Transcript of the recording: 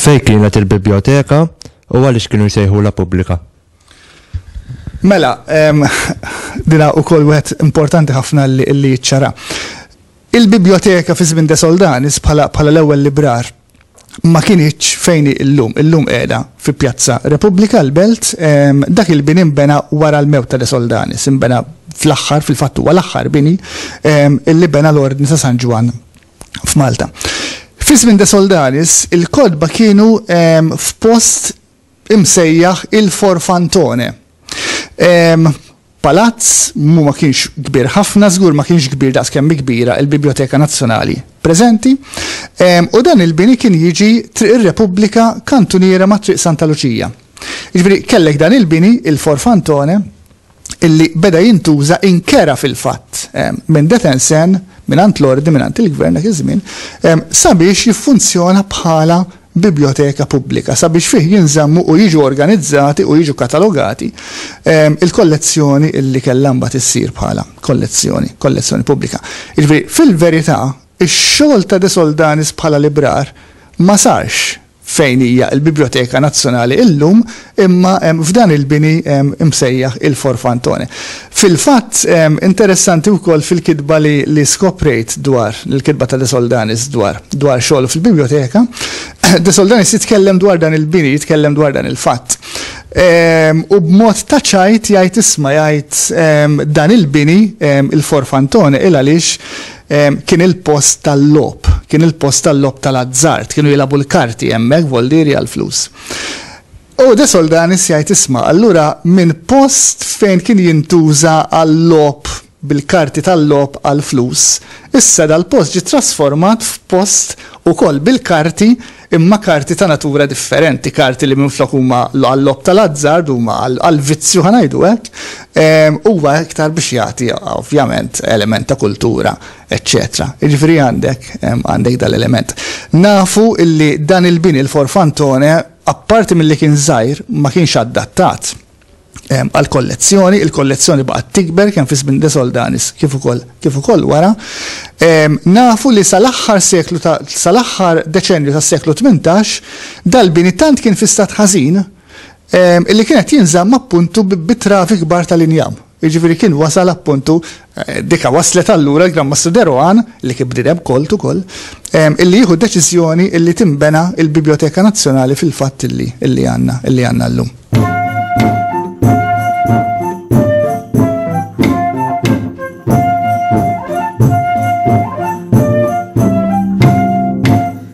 Fej kienet il-biblioteka u għaliex kienu jsejħu la pubblika? Mela, dina u kol wet importanti ħafna li ċara. Il-biblioteka fi żmien de Soldanis bħala l-ewwel librar ma kinitx fejn hi llum. Illum qiegħda fi Pjazza Repubblika, l-Belt. Dak il-bini nbena wara l-mewt ta' De Soldanis. Inbena fl-aħħar, fil-fatt huwa l-aħħar bini li bena l-Ordni ta' San Ġwann f'Malta. Fi żmien De Soldanis, il-kotba kienu f'post imsejjaħ il-Forfantone. Palazz mu ma kienx kbir ħafna, żgur ma kienx kbir daqs kemm kbira il-Biblioteka Nazzjonali preżenti, u dan il-bini kien jiġi Triq ir-Repubblika kantuniera ma' Triq Santa Luċija. Jiġifieri kellek dan il-bini, il-Forfantone, illi beda jintuża inkera fil-fatt minn detensen, mingħand l-Ordni, mingħand il-Gvern dak iż-żmien, sabiex jiffunzjona bħala bibljoteka pubblika, sabiex fih jinżammu u jiġu organizzati u jiġu katalogati l-kollezzjoni illi kellha mbagħad issir bħala kollezzjoni, kollezzjoni pubblika. Jiġifieri, fil-verità, ix-xogħol ta' De Soldanis bħala librar ma sarx fejn hija l-Bibljoteka Nazzjonali illum, imma f'dan il-bini msejjaħ il-Forfantone. Fil-fatt, interessanti wkoll fil-kitba li skoprejt dwar, il-kitba ta' De Soldanis dwar dwar xogħlu fil-Bibljoteka, De Soldanis jitkellem dwar dan il-bini, jitkellem dwar dan il-fatt. U b'mod ta' ċajt jgħid isma' jgħid dan il-bini, il-Forfantone, il għaliex Kien il-post tal-logħob. Kien il-post tal-logħob tal-azzard. Kienu jilagħbu l-karti hemmhekk, voldieri għall-flus. U De Soldanis jgħid isma' allura minn post fejn kien jintuża għal-logħob bil-karti tal-logħob għall-flus, issa dal-post ġie trasformat f'post ukoll bil-karti imma karti ta' natura differenti, karti li minflok huma għal-logħob tal-azzard huma għall-vizzju ħa ngħidu hekk, huwa iktar biex jagħti ovvjament element ta' kultura eċċetera. Jiġifieri għandek għandek dan l-element. Nafu illi dan il-bini l-Forfantone apparti milli kien żgħir ma kienx adattat għall-kollezzjoni, il-kollezzjoni baqgħet tikber kemm fi żmien De Soldanis kif ukoll kif ukoll wara. Nafu li sal-aħħar seklu ta' sal-aħħar deċennju tas-seklu 18 dal-bini tant kien fi stat ħażin illi kien qed jinżamm appuntu bi travi kbar tal-injam. Jiġifieri kien wasal appuntu Dika wasslet allura l-Gran Mastru De Rohan, li kien bniedem kolt ukoll, illi jieħu d-deċiżjoni illi tinbena l-Bibljoteka Nazzjonali fil-fatt illi illi għandna illi għandna llum.